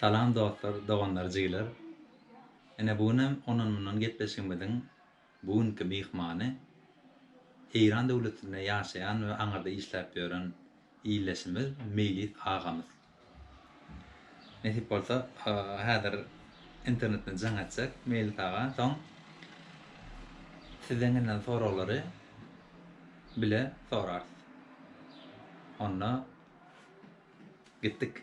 Salam dostlar, doganlar, jigiler. Ine bu günem ondan-mundan gepleşigimiziň bu günki myhmany Eýran döwletinde ýaşaýan we aňyrda işläp ýören ildeşimiz Meýlis agamyz. Nesip bolsa häzir internetden jaň etjek Meýlis aga soň sizden gelýän soraglary bile sorarys. Onda gitdik.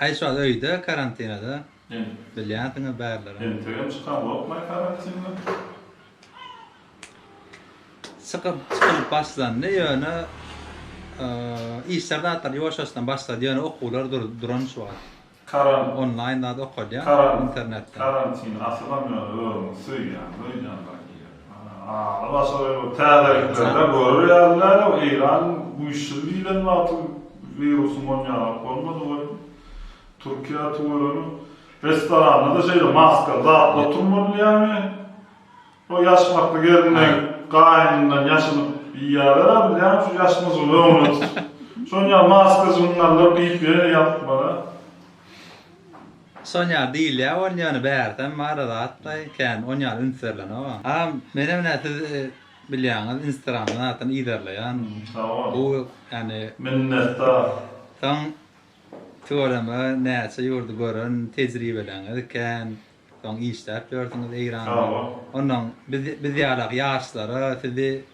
Haýyş wagt öýde karantinada bilýänsiňiz bärleri. Entegem çykanokmaý karantinden. Çykyp çykylyp başlandy ýöne işler zatlar ýuwaş-ýuwaşdan başlady ýöne okuwlar duran şu wagt. Karan. Onlaýn zat okalýar internetden. Karantin asylam ýöne özüňi söýýäňmi öýdýän zat diýýär. Täzeliklerden görür ýaly däl-ow, Eýran güýçsüz diýlen wagty wirusyň on ýaňylyk bolmady welin, Türkiýä tüweleme. Restoranda-da şeýle maskaly zatlar turlanylýarmy? O ýaş makly gelin-de gaýynyndan ýaşynyp iýýäler-ä, bilýäňmi, şu ýaş myjygy öňüne tutup. Şonuň ýaly maska jyňňarlar geýip ýene ýatmaly-a. Şon ýaly diýilýä bolýany bärdem bara zat daýy kän on ýaly üns berlenogam. Agam menem ine siz bilýaňiz instagramdan zatdan yzarlaýan. Sagol. Bu ýani. Minnetdar. Soň tüweleme näçe ýurdy gören tejribeleňiz kän soň işläp ýörsüňiz eýranda. Sagol. Onnoň biz biz ýalak ýaşlara sizi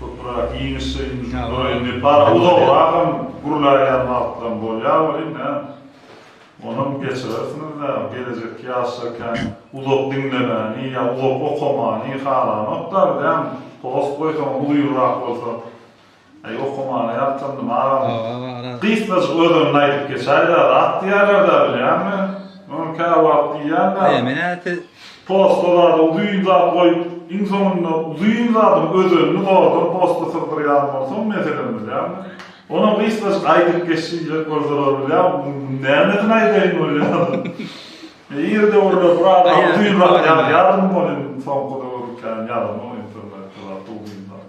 Köpürak iýmişin, duryn depar, uzagyragam gürläýen wagtlaryň bolýar welin, näme, onam geçirersiňiz dä, gelejekki ýaşlarkäň uzak diňlemäni ýa uzak okamany halanokda biz, hem post goýsaňam uzynrak bolsa, äý, okamana ýatlandym agam, gysgajyk özüniňki aýdyp geçäý-dä, rat diýýärler-dä, bilýäňmi, ony käwagt diýýän-dä. Aý, men-ä siz Posta zada uzyn zat goýup, iň soňunda uzyn zadyň özenini zordan posta syrdyrýan bolsaň, meselem bilýäňmi? Onam gysgajyk aýdyp geçjek bolsalar bilýäňmi, nämesini aýdaýyn bolýaryn. Ir döwürler bir adam uzyn zat ýazýarmy bolýa, soňky döwür kän ýazylmok internetde zat uzyn zat.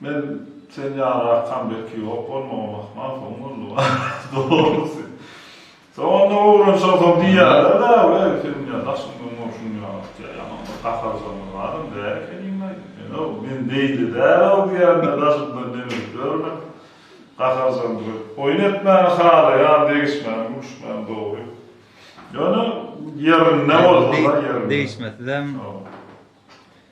Men sen ýaly arkam belki ýok bolmagy mahmal soň boldy wah dogrusy soňunda owrenşogsoň diýýälerda weh seniň ýaly daşyň doňýar şunuň ýaly atýar ýaňam bir gaharyjamyz adam däl ekeniň aýdym ýöne men beýle dälow diýende daşymdan demirip ýörmän gaharyjam durup oýun etmäni halaýan degişmäni gülüşmäni dogry ýöne ýerinde bolsada ýerinde degişmesizem.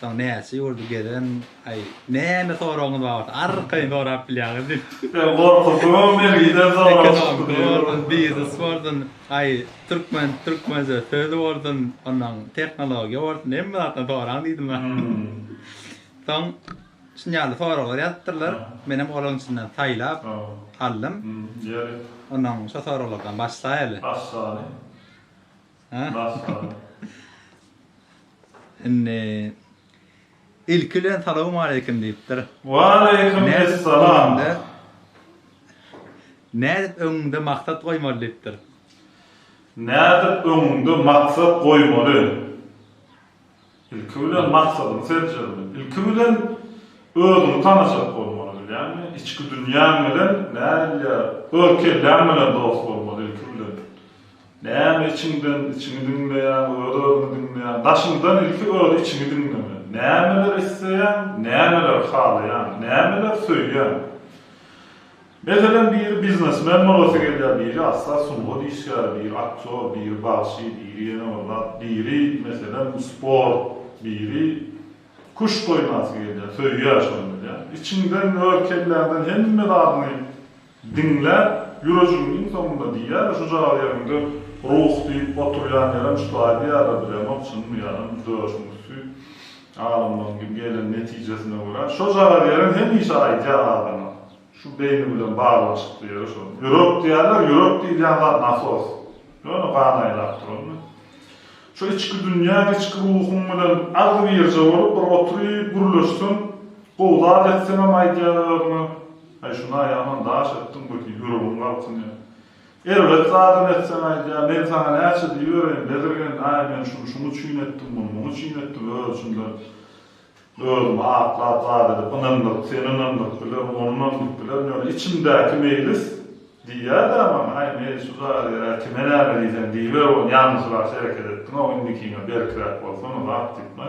Soň näçe ýurdy gezen, aý, näme soragyňyz bar bolsa, arkaýyn sorap bilýäňiz diýip. Sen gorkuzdyňam meni, gider soraşyp. Biznes bolsun, aý, türkmen, türkmençe söz bolsun, onnoň tehnologiýa bolsun, hemme zatdan soraň diýdim men. Soň şuny ýaly soraglar ýazypdyrlar, menem olaryň içinden saýlap aldym. Onnoň şo soraglardan başlaýaly. Başlaly. Indi ilki bilen salowmaleýkim diýipdir. Waleýkim essalam. Nädip öňüňde maksat goýmaly diýipdir. Nädip öňüňde maksat goýmaly. Ilki bilen maksadyňy seljermen. Ilki bilen özüňi tanajak bolmaly bilýäňmi? Içki dünýäň bilen nädilýä öz kelläň bilen dost bolmaly ilki bilen. Näme içiňden içiňi diňleýäň, öz özüňi diňleýäň. Daşyňdan ilki öz içiňi diňleme. Nämeler isleýäň, nämeler halaýaň, nämeler söýýäň. Meselem, biri biznesmen bolasy gelýär, biri asla sungat işgäri, biri aktýor, biri bagşy, biri ýene bir zat, biri, meselem, sport, biri küşt oýnasy gelýär, söýýär şony bilýän. Içiňden, öz kelläňden hemme zadyňy diňläp, ýürejigiň iň soňunda diýýär-de, şu jagy ýeriňde ruh diýip oturýan ýerem şu taý diýýärler, bilemok, çynmy ýalam, döşüň üsti alymlaryň gelen netijesine görä, şo jagy ýeriň hemişe aýdýar adama. Şu beýni bilen baglanyşykly ýeri şo. Ýürek diýýärler, ýürek diýilýän zat nasos. Ýöne gan aýlap duranmy? Şu içki dünýäň, içki ruhuň bilen agzybirje bolup bir oturyp gürleşseň, gowy zat etseňem aýdýar özüňe, Aý şuna ýaman daş etdiň bu diýip ýüregiň galkynýar. Erbet zadam etseň aýdýar, Men saňa näçe diýibereýin, bezirgen, aý men şuny şuň üçin etdim, muny muň üçin etdim, öz içimden Özümi aklap zat edip, ynandyryp, seni ynandyryp bilerin, ony ynandyryp bilerin, ýöne içimdäki meýlis diýýär-dä maňa, Haý, meýlis, şu jadyger-ä kime näme diýseň diýiber, ony ýalňyşraç hereket etdiň-ow, indikiňe berkräk bolsana, zat diýipmi?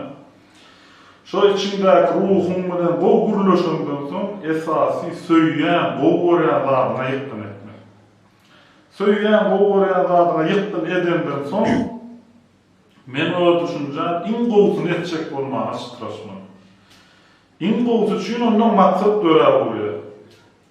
Şo içiňdäki ruhuň bilen gowy gürleşeňden soň, esasy söýýän, gowy görýän zadyňa ýykgyn etmek. Söýýän, gowy görýän zadyňa ýykgyn edeňden soň, Men ola düşünjä iň gowusyny etjek bolmaga çytraşman. Iň gowusy üçin onda maksat dörä bolýar.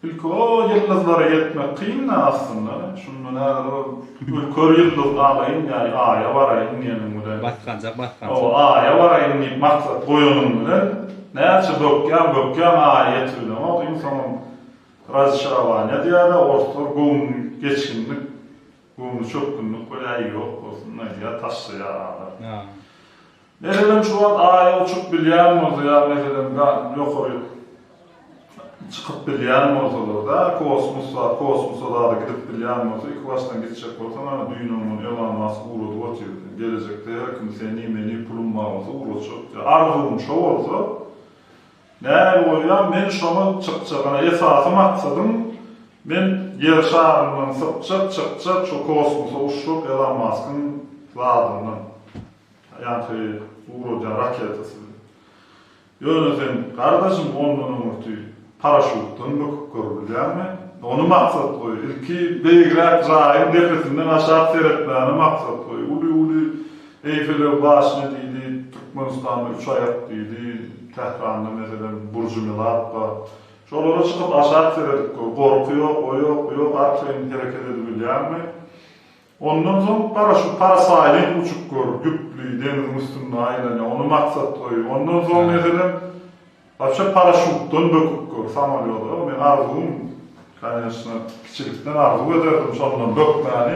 Ilki o ýyldyzlara ýetmek kyn-da aslynda. Şunda näder ol bir kör ýyldyz alaýyn ýa Aýa baraýyn diýeniň bilen. Basgança, basgança. Hawa, Aýa baraýyn diýip maksat goýanyň bilen, näçe bökýäň, bökýäň, Aýa ýetibileňok. Iň soňam Raziçarowanýa diýýär-de, orslar göwün geçginlik Göwnü çökgünlik bir äý ýok bolsun Nadia taşlaýar adam. Meselem şu wagt aýa uçup bilýän bolsa ýa meselem gan ýokary çykyp bilýän bolsalarda kosmos bar kosmosa zada gidip bilýän bolsa iki başdan gitjek bolsa mana düýnem muny Elon Mask ugradyp otyrdy gelejekde her kim seni meni pulum bar bolsa ugratjak diýip arzuwym şo bolsa Nähili bolýar, men şoňa çykjagana esasy maksadym men ýer şaryndan sypjak, çykjak, şo kosmosa uçjak Elon Maskyň zadyndan. Ýaňky uradýan raketasy bilen. Ýöne sen gardaşym ondan öňürti paraşutdan böküp görübilýäňmi? Ony maksat goý. Ilki beýigräk jaýyň depesinden aşak seretmäni maksat goý. Uly-uly Eýfelew başyny diýdi, Türkmenistanda üç aýak diýdi, Tähranda meselem Burjumelap bar. Şolara çykyp aşak seredip gör, gorky ýok, o ýok, bu ýok, arkaýyn hereket edibilýäňmi? Ondan soň gara şu parasaýling uçup gör, düpli, deňziň üstünde aýlanýar, ony maksat goý. Ondan soň meselem. Waçe paraşutdan böküp gör samolýoda meň arzuwym koneçno kiçilikden arzuw ederdim şondan bökmäni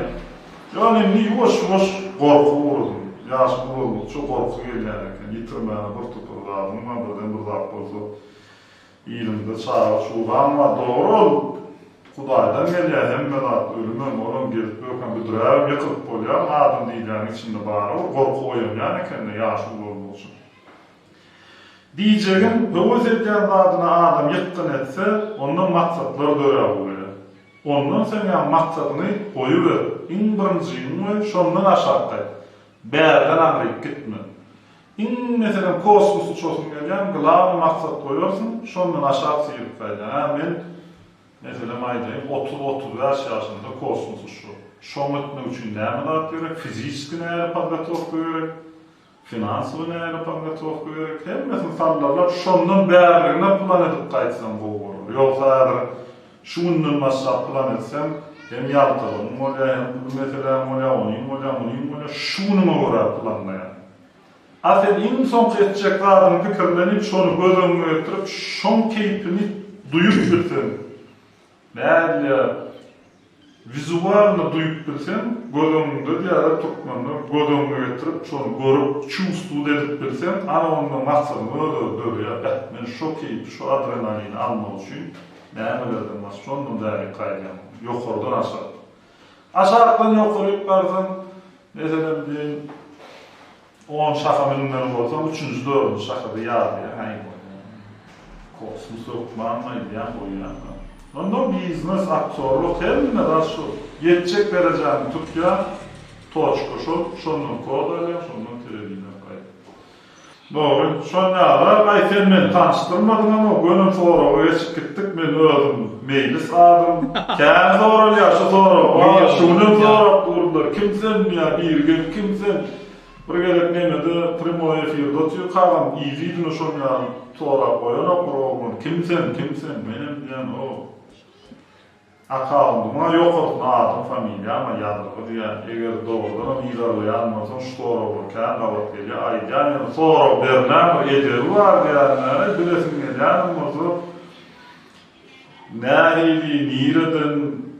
ýöne indi ýuwaş ýuwaş gorka uradym ýaşym ulaldyça gorky gelýän eken ýitirmäne bir topar zadym bar birden bir zat bolsa ýylyňda çaga çugaň bar dogry ol hudaýdan gelýä hemme zat ölümem olam gelip böken büdräbem ýykylyp bolýarmy adam diýilýäniň içinde bara bir gorky oýanýan ekende ýaşy ulaldyça. Diýjegim, höwes edýän zadyna adam ýykgyn etse, onda maksatlar döräp ugraýar. Ondan soň ýa maksadyňy goýuber, iň birinji, iň we şondan aşakdaý, bärden aňryk gitme. Iň, meselem, kosmos uçasym gelýän, glawny maksat goýarsyň, şondan aşak syryp gaýdýan. Hä, men, meselem, aýdaýyn, otuz, otuz bäş ýaşymda kosmos uçjak. Şoňa gitmek üçin näme zat gerek, fiziçeski nähili podgotowka gerek? Finansowy nälet anlatowka gerek hemmesini sallalap şondan bärligine plan edip gaýtsaň gowy bolar ýogsa häzir şu günden başlap plan etseň hem ýaltalygyň bolýa hem pul meseläň bolýa onyň bolýa munyň bolýa şu günüňe görä planlaýaň a sen iň soňky etjek zadyňy pikirlenip şony göz öňüňe getirip şoň keýpini duýup bilseň Nädýä, wizualno duýup bilseň, göz öňüňde diýýärler türkmenler, göz öňüňe getirip, şony görüp, çuwstwt edip bilseň, ana onda maksadyň öz-özi dörýär, Beh, men şo keýpi, şo adrenalini almak üçin nämelerden baş, şondan bärik gaýdýan, ýokardan aşak. Aşakdan ýokaryk barsaň, meselem diýeýin, On şaha münmeli bolsaň, üçünji, dördünji şaha-da ýazýaň, aý bolýar. Kosmos hökmanmy aýdýan goýýanmy? Onda biznes, aktýorlyk, hemme zat şol. Ýetjek derejäňi tutýaň, toçka şol, şondan kod alýaň, şondan telewideniýa paýlap. Dogry, şol ýaly. Aý, sen meni tanyşdyrmadyňam-ow, göni soraga geçip gitdik, men özüm Meýlis adym. Kän soralýar şu sorag, wah, şu günem sorap durdular, kim sen diýýär, biri gelip, kim sen? Bir gezek Meme-de primoý efirde otyr kagam yzy-yzyna şon ýaly sorag goýanok bir oglan, Kim sen, kim sen? Menem diýen, O, akkaundyma ýokarsyna adym, familiýam-a ýazylgy diýýän. Eger dogrudanam yzarlaýan bolsaň şu soraglar kän gabat gelýär. Aýdýan ýöne sorag bermäň bir edebi bar diýýärin-ä. Bilesiň gelýänem bolsa. Näreydi nireden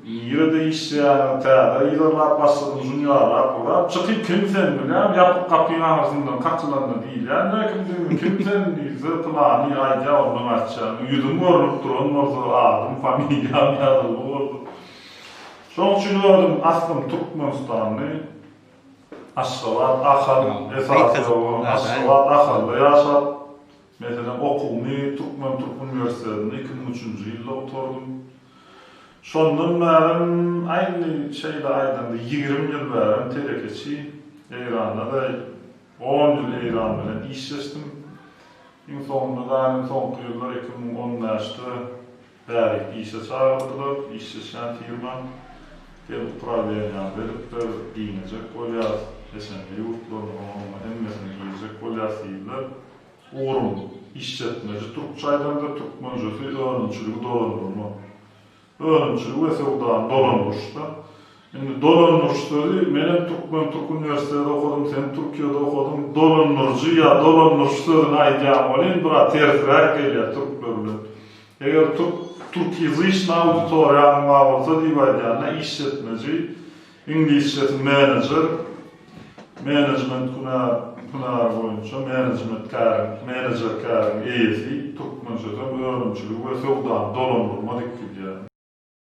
nirede işleýäňiz täze yzarlap başladym şuny ýalap urap çykyp kim sen bilýän ýapyk gapyň aňyrsyndan kakylanda diýilýän dä kimdigini kim sen diýilse pylany aýdýa ondan açýan ýüzüň görnüp duran bolsa adym familiýam ýazylgy bolsa şoň üçin özüm aslym türkmenistanly aşgabat ahal esasy aşgabat ahalda ýaşap Meselem, okuwymy Türkmen türk uniwersitetinde iki müň üçünji ýylda gutardym. Şondan bärem, aýny şeýle aýdaňda, ýigrimi ýyl bärem telekeçi, Eýranda-da on ýyl Eýran bilen işleşdim. Iň soňunda, Daniň soňky ýyllar iki müň on bäşde, Bäri işe çagyrdylar. Işleşýän firma hem ukra beýanýa beripdir, giňejek bolýas, peşenbe ýurtlaryny oňa-muňa hemmesini girjek bolýas diýdiler. Ugrum, işjetmeji türkçe aýdanda türkmenjesi önümçiligi dolandyrmak. Önümçiligi we söwdany dolandyryşda Indi dolandyryş sözi, menem türkmen türk uniwersitede okadym, sen Türkiýede okadyň, dolandyryjy ýa dolandyryş sözüni aýdýan welin biraz tersräk gelýär türkler bilen. Eger türk türkýazyçny auditoriýaňyň bar bolsa diýip aýdýanda işletmeji, iňlisçesi manager, menejment hünär hünäri boýunça menejmet käriň, menejer käriň eýesi, türkmençesem önümçiligi we söwdany dolandyrma diýip gidýär.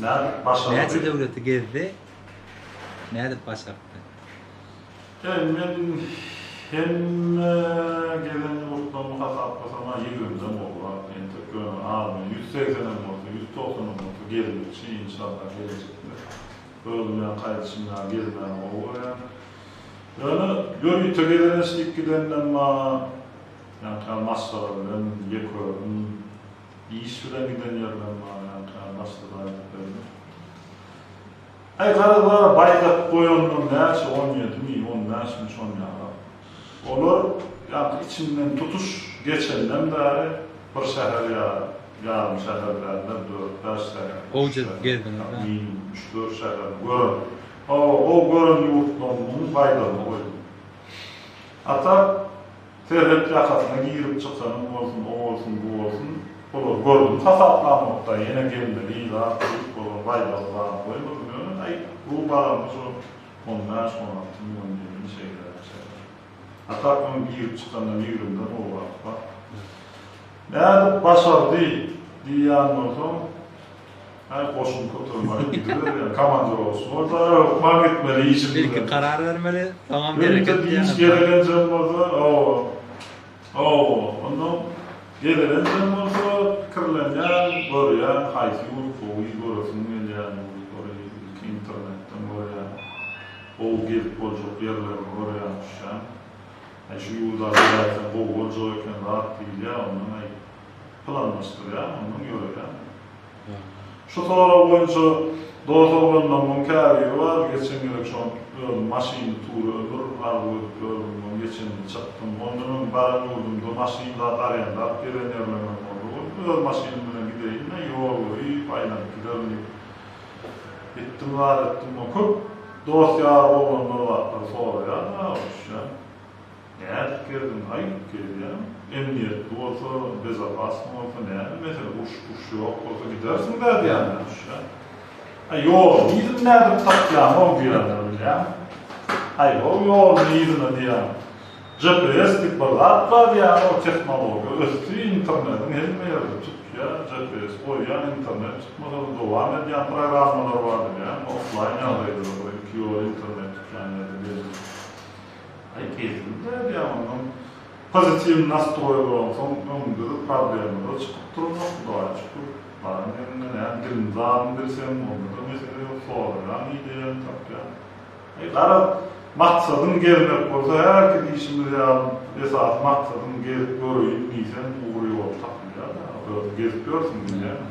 Nädip başardy? Näçe döwleti gezdi? Nädip başartdy? Eý, men hemme gezen ýurtlarymy hasaplasamha ýigrimden gowrak, entek ýöne armiýa ýüz segsenem bolsa, ýüz togsanam bolsa gezmekçi, inşallah gelejekde özüm bilen gaýdyşym ýaly gezmäni gowy görýän. Ýöne ýörite gezeleşdik gidenem bar, ýaňky ýaly masgara bilen ýekörün. Iş bilen giden ýerlerim bar ýaňka başga zat etmedim. Aý garyplara baýdak goýanlar näçe on ýedimi on bäşmi şonýalar. Olar ýaňky içimden tutuş geçenden bäri bir şäher ýa ýarym şäher däldir dört bäş şäher Gowy jyzk gezdiňiz ha. Minimum üç dört şäher gören. Hawa gowy gören ýurtlarymyň baýdagyny goýdum. A tak Serhet ýakasyna girip çykanyň bolsun, o bolsun, bu bolsun, olar gördüm hasaplanokda, ýene gelmeli zat diýip, olar baýdagy bana goýmadym, ýöne, aý, bu balamy şu on bäş, on alty million diýeniň şeýleräk çykyş. A tak öň girip çykanda migrimden gowrak bar. Nädip başardy diýýän bolsaň, Häý goşuny kötermeli gidiber ýa komandir bolsun bolsa hökman gitmeli işim bilen. Ilki karar bermeli soňam hereket diýen. Öýüňde gezelenjeň bolsa hawa hawa onda gezelenjeň bolsa pikirlenýäň görýäň haýsy ýurt gowy göresiň gelýän ýurtlary ilki internetden görýäň gowy gezip boljak ýerlerini görýäň düşýäň. Häý şu ýurda gidäýseň gowy boljak eken zat diýilýär ondan planlaşdyrýan, ondan ýöreýän. Şu sorag boýunça dos oglanlarymyň käbiri bar, geçen gezek şol özüm maşyny tury ömür arzuw edip ýördüm, ony geçen ýyl çykdym. Ondan öň baran ýurdumda maşyn zat arendalap gezen ýerlerimiz boldy. Ony öz maşynym bilen gideýin-de, ýol görüp, aýlanyp giderin diýip gitdim, zat etdim. Köp dost-ýar oglanlar zatlar soraýar, ha, üşän. Nädip geldiň aý? Gelýän. Emniýetli bolsa, bezopasny bolsa näme mesele, uruş puruş ýok bolsa gidersiň dä diýýänler düşýär. Aý ýoluň yzyny nädip tapýaň-ow diýýänler bilýäň. Aý-how ýoluň yzyny diýýän. GPS diýip bir zat bar diýýän-ow tehnologiýa ösdi, internetiň hemme ýerde tutýar, GPS goýýaň internet tutmasa-da dowam edýän programmalar bar bilýäň, offlaýn ýagdaýda-da bir iki ýola internet tutýan ýerde belli. Aý keýpimde diýýän ondan pozitiw nastroý bolansoň öňümdede problemada çykyp durmaz hudaýa şükür baran ýeriňde näme dilini zadyny bilseň ondada mesele ýok soraýaň ideýaňy tapýaň aý garaz maksadyň gezmek bolsa hälki diýşimiz ýaly esasy maksadyň gezip göreýin diýseň ugur ýoly tapylýar ýaly özüň gezip ýörsüň bilýäňmi.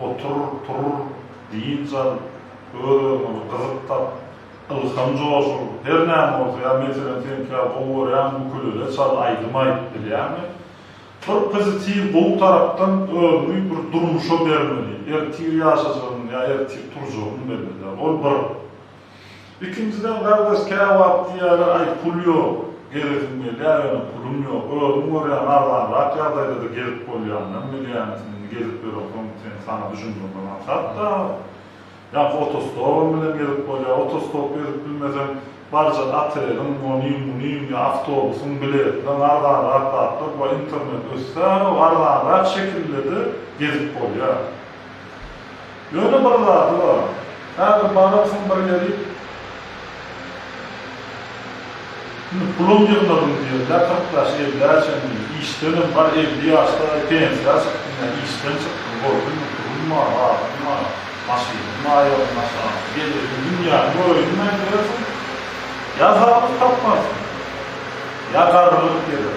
Otur, tur, dynç al, öz-özüňe bir gyzyk tap, ylham joşur, her näme bolsa, ýa, meselem, seňki ýaly gowy görýän ukulele çal, aýdym aýt, bilýäňmi? Bir pozitiw, gowy tarapdan özüňi bir durmuşa bermeli, ertir ýaşajagyn ýa ertir turjagyn belli däl, ol bir. Ikinjiden gardaş käwagt diýýärler aý pul ýok gezesim gelýär ýöne pulum ýok özüň görýäň arzanrak ýagdaýdada gezip bolýandan bilýäňisn indi gezip ýöreňsoň sen saňa düşündirme maksat dagy ýa otostopam bilen gezip bolýar otostop gezip bilmeseň barjak oteliň ony muny ýa awtobusyň biletleň arzanrak zatlar bar internet össäro arzanrak şekillede gezip bolýar. Ýöne bir zady bar. Häzir bararsyň bir ýerik. Indi pulum ýygnadym diýen, ýa kyrk ýaş, elliä çenli, işdenem, bar elli ýaşda-da pensiýa çykdym, ýa işden çykdym, boldy indi pulum bar, zatym bar, maşynym aýagymyň aşagynda, gezeýin, dünýäni göreýin diýmän ýörersiň. Ýa zadyňy tapmarsyň. Ýa garrylyk geler.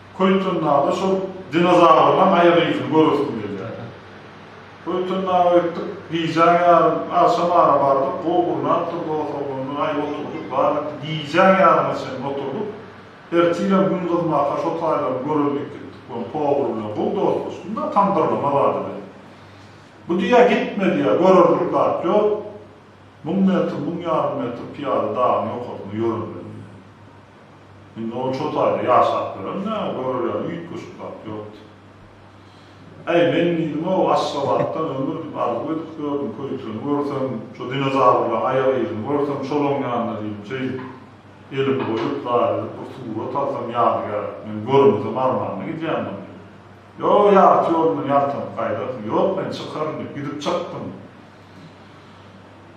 Köýtendaga şol dinozawrynyň aýak yzyny göresim gelýär. Köýtendaga gitdik, gijäň ýarym, agşam ara bardyk, gowy gurnap durdy, oturgynly gaýy oturdyk, bar etdik, gijäň ýaryma çenli oturdyk. Ertirem gün gyzmaka şo taýlary görelim diýip gitdik, ony pogur bilen, gowy dostlaşdym-da, tamdyrlama zady bilen. Bu diýýär, gitme diýýär, görerlik zat ýok, müň metr, müň ýarym metr pyýada dagyň ýokarsynda ýöremeli diýýär. Indi ol şo taýda ýaşap göremdä, görelerine üýtgeşik zat ýokdy. Äý, men diýdim-ow, Aşgabatdan ömür diýip arzuw edip gördüm, köýtürini görsem, şo dinozawrlaň aýak yzyny görsem, şol oňýanda diýdim, şeýdip, elimi goýup, zat edip, bir surat alsam ýadygär, men görmesem armanda gidýän bolýan. Ýo, ýarty ýolundan ýaltanyp gaýdarsyň. Ýok, men çykaryn diýip, gidip çykdym.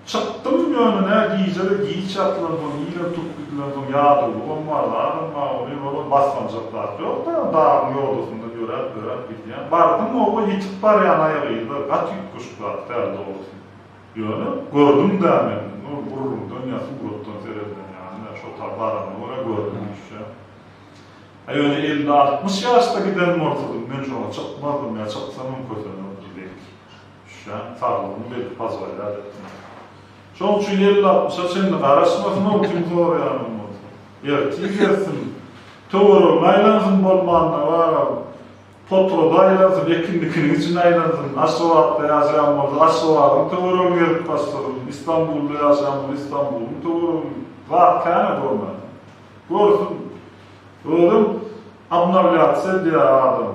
Çykdym ýöne-ne gije-de giç ýatylan soň ýene turup gidilen soň ýadawlygam bar zadam bar welin olam basmaljak zat ýok da dagyň ýodasyndan ýöräp ýöräp gidýän. Bardym oba ýetik barýan aýagy ýyly gaty üýtgeşik zat däl dogrusy. Ýöne gördüm-dä men indi ol gürrüňden ýa suratdan seredilen ýaly-dä şo tar baranyma görä gördüm düşjä. Hä ýöne elli altmyş ýaşda giden bolsadym men şoňa çykmazdym ýa çyksamam kösenerdim belki. Düşýän saglygyny berip pazgaýrat etdiň. Şoň üçin elli altmyşa çenli garaşmasyn-ow kim soraýanyň bolsa. Ertir gelsin, töweregine aýlansyn bolmanda baram, potrada aýlansyn, ekinlikiniň içine aýlansyn, Aşgabatda ýaşaýan bolsa Aşgabadyň töweregini gezip başlasyn, Istanbulda ýaşaýan bolsa Istanbulyň töweregini, zat kän-ä görmäne. Görsün. Özem obnawlýatsiýa edýär adam.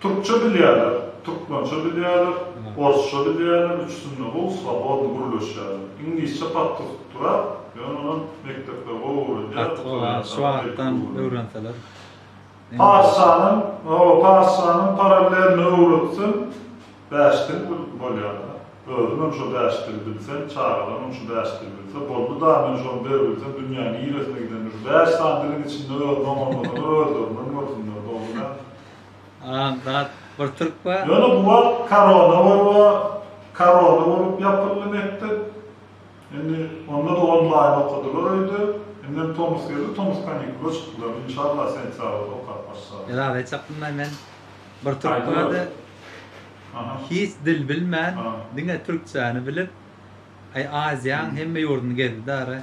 Türkçe bilýärler, türkmençe bilýärler, orsça bilýärler, üçüsinde gowy swobodny gürleşýärler. Iňlisçe pat tutup durar, ýöne onam mekdepler gowy öwredýär, Gaty gowy ýa şu wagtdan öwrenseler. Parsanam, hawa parsanam parallelno öwretseň bäş dil bolýarda. Özümem şo bäş dil bilsem, çagalarymam şu bäş dil bilse boldy da men şony der bilsem dünýäň niresine gidemde şu bäş sany diliň içinde özüni oňarmasalar özlerinden görsünler dogrymy? Agam zat bir türk bar. Ýöne bu wagt korona bar we korona bolup ýapyldy mekdep. Indi onda-da onlaýn okadylar öýde. Indem tomus geldi, tomus kanikula çykdylar. Inşallah sentýabrda okap başlarlar. Ýa hiç aklymda men bir türk bardy. Hiç dil bilmän diňe türkçäni bilip Aziýanyň hemme ýurduny gezdi dara.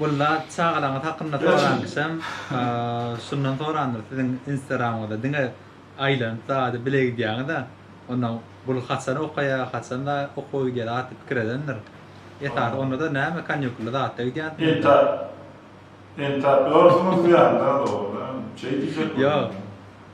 Walla çagalaryňyz hakynda soranyşam şundan sorandyr siziň instagramyňyzda diňe aýlanyp zady bile gidýäňiza onda bul haçan okaýa haçan okuwa gidýär atly pikir edendir esasy ondada näme kanýukully zatda gidýänsiňizmi? Entäp ýörsiňizmi ýa nirede oglum? Çeý diýjek bolýan.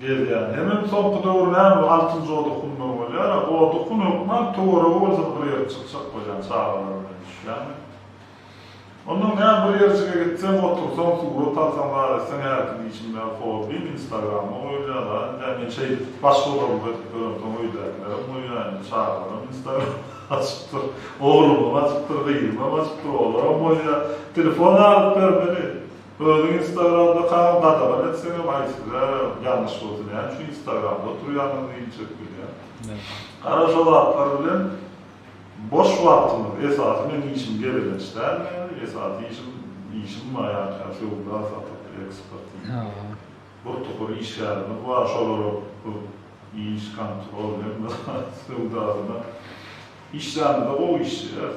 Gelýär. Hemem soňky döwür näme bu altyn joda hundan bolýar-a. Goda hun hökman töweregi bolsa-da bir ýere çykjak bolýan çagalar bilen düşýäňmi. Ondan näme bir ýerjige gitseň, otursaň, surat alsaň zar etseň häkim işiň däl hobbiň instagrama goýulýar a indi men şeýdip başga olarymda edip ýörem soň öýdäkilerem goýýar indi çagalarym instagram açypdyr. Oglumam açypdyr, gyzymam açypdyr olaram goýýar. Telefon alyp bermeli. Özüň instagramda kaň gadagan etseňem aý size ýalňyş bolsa näme üçin instagramda oturýaňyz diýip çek bilýän. Gara şo zatlar bilen boş wagtymyz esasy men işim gezelenç däl meniň esasy işim işim bar ýa-da söwda satyp eksport bir topar işgärimiz bar şolara köp iş kontrol söwdasyna işlänimizde gowy işleýäs.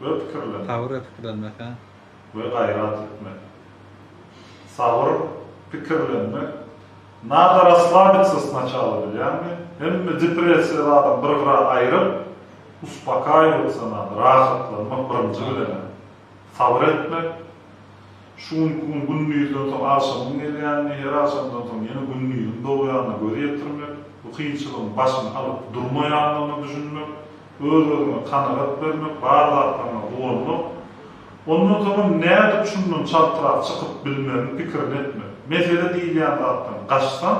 we pikirlen. Sabyr we pikirlenmek, hä? We gaýrat etmek. Sabyr, pikirlenmek. Nada raslabica sначала bilýäňmi? Hemme depressiýaly adam bir gyra aýryp, uspakaýowaca nada, rahatlanmak birinji bilen-ä. Sabyr etmek. Şu günki gün gündizden soň agşamyň gelýänini, her agşamdan soň ýene gündiziň dogýanyna göz ýetirmek, bu kynçylygyň başyny alyp durmaýandygyna düşünmek. Öz-özüňe kanagat bermek, bar zatlaryňa guwanmak, ondan soňam nädip şundan çaltrak çykyp bilmegiň pikirini etmek. Mesele diýilýän zatdan gaçsaň,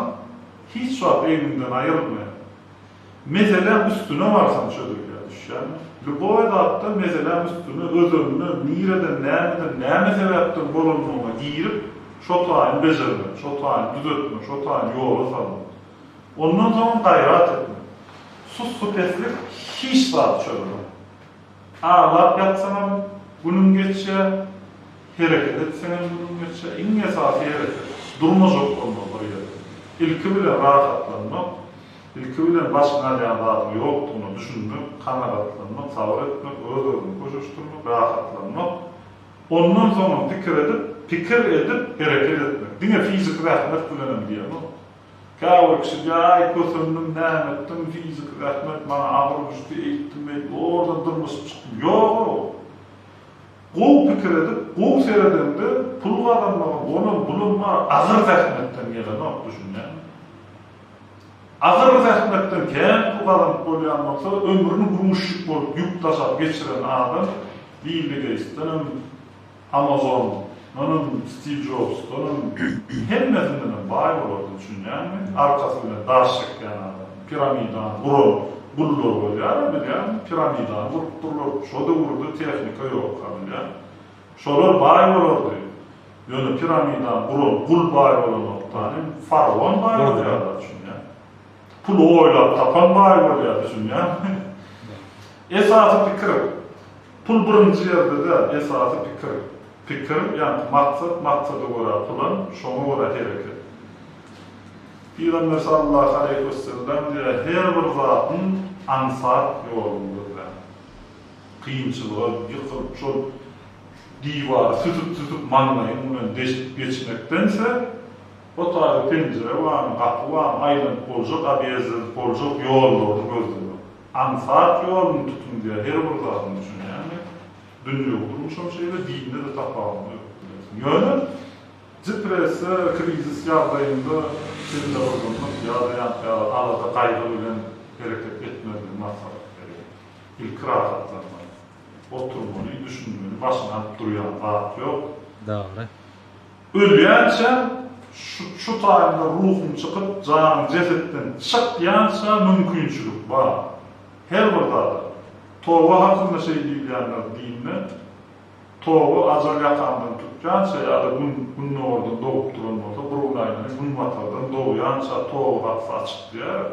hiç wagt egniňden aýrylmaýar. Meseläň üstüne barsaň çözülýär, düşýärmi? Lýuboý zatda meseläň üstüne, özenine, nireden, nämeden, näme sebäpden bolandygyna girip, şo taýyn bejermek, şo taýyn düzetmek, şo taýyn ýola salmak. Ondan soň gaýrat ediň. Sussupeslik hiç zat çözmez. Aglap ýatsaňam, günüň geçýär, hereket etseňem günüň geçýär. Iň esasy hereket. Durmajak bolma bir ýerde. Ilki bilen rahatlanmak, ilki bilen başyňy alýan zadyň ýokdugyna düşünmek, kanagatlanmak, sabyr etmek, öz-özüňi köşeşdirmek, rahatlanmak. Ondan soňam pikir edip, pikir edip hereket etmek. Diňe fiziki zähmet bilenem diýemok. Käbir kişiler, Aý, kösendüm, näme etdim, fiziki zähmet, maňa agyr düşdi, eýtdim-beýtdim, owardan dyrmaşyp çykdym. Ýog-ow! Gowy pikir edip, gowy seredeňde, pul gazanmagyň onam, bunam bar, agyr zähmetden gelenok, düşünýäňmi? Agyr zähmetden kän pul gazanyp bolýan bolsa, ömrüni gruzçik bolup ýük daşap geçiren adam Billi Geýtsdenem, Amazon onam Stiv Jobs onam hemmesindenem baý bolardy düşünýäňmi arkasy bilen daş çekýän adam piramidany guran gullar bolýara bilýäňmi piramidany gurupdyrlar şo döwürde tehnika ýokka bilýäň şolar baý bolardy ýöne piramidany guran gul baý bolanokdan hem faraon baý bolýarlar düşünýäň. Puly oýlap tapan baý bolýar, düşünýäňmi? Esasy pikir, pul birinji ýerde däl, esasy pikir. Pikir, ýagny maksat, maksada görä plan, şoňa görä hereket. Pygamber sallallahu aleýhi we sellem diýýär, Her bir zadyň aňsat ýoluny gözle. Kynçylyga ýykylyp, şol diwary süsüp-süsüp maňlaýyň bilen deşip geçmekdense, Otagda penjire barmy, gapy barmy, aýlanyp boljak obýezdiniň boljak ýollaryny gözlemek. Aňsat ýoluny tutuň diýýär, her bir zadyň üçin. Ýagny dünýewi durmuşam şeýle, dinde-de tapawudy ýok, bilersiň. Ýöne depressiýa, krizis ýagdaýynda bella gyzgynlyk ýa-da ýaňky ýaly alada, gaýgy bilen hereket etmezligi maslahat berýär. Ilki rahatlanmaly. Oturmaly, düşünmeli, başyny alyp durýan zat ýok. Dogry. Ölýänçä, şu taýynda ruhuň çykyp, janyň jesetden çyk ýança mümkinçilik bar. Her bir zada. Toba hakynda şeý diýilýändir dinde, Toba ajal ýakandan tutýança ýa-da gün gündogardan dogup duran bolsa, bir gün aýlanyp, günbatardan dogýança toba gapysy açyk diýýärler.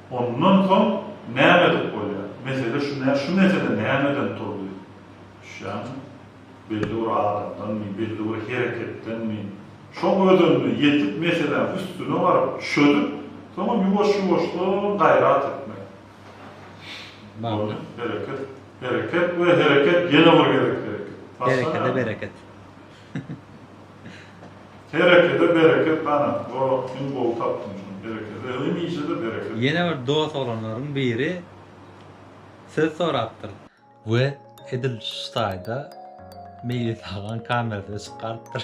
Ondan soň näme edip bolýar? Mesele şu däl, şu mesele nämeden turdy? Düşýäňmi? Belli bir adamdanmy, belli bir hereketdenmi? Şoň özende ýetip meseläň üstüne baryp çözüp, soňam ýuwaş-ýuwaşdan gaýrat etmek. Boldy, hereket, hereket we hereket ýene bir gezek hereket. Başga näme? Herekede bereket. Herekede bereket ganat gorak iň gowy tapdyň şuny berekella hemişede bereket. Ýene bir dos oglanlaryň biri söz sorapdyr. We edil şu taýda Meýlis agan kamerada çykarypdyr.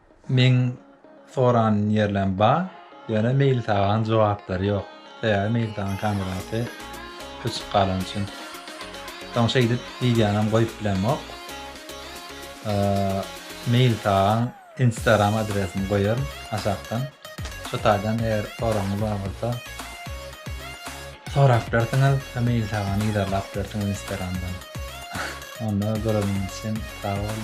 Meň soran ýerlem bar ýöne Meýlitagaň jogaplary ýok sebäbi Meýlitagaň kamerasy öçüp galan üçin. Soň şeýdip wideonam goýup bilemok. Meýlitagaň instagram adresini goýaryn aşakdan. Şu taýdan eger soragyňyz bar bolsa sorap bilersiňiz we Meýlitagany yzarlap bilersiňiz instagramdan. Onda göreniňiz üçin sag boluň.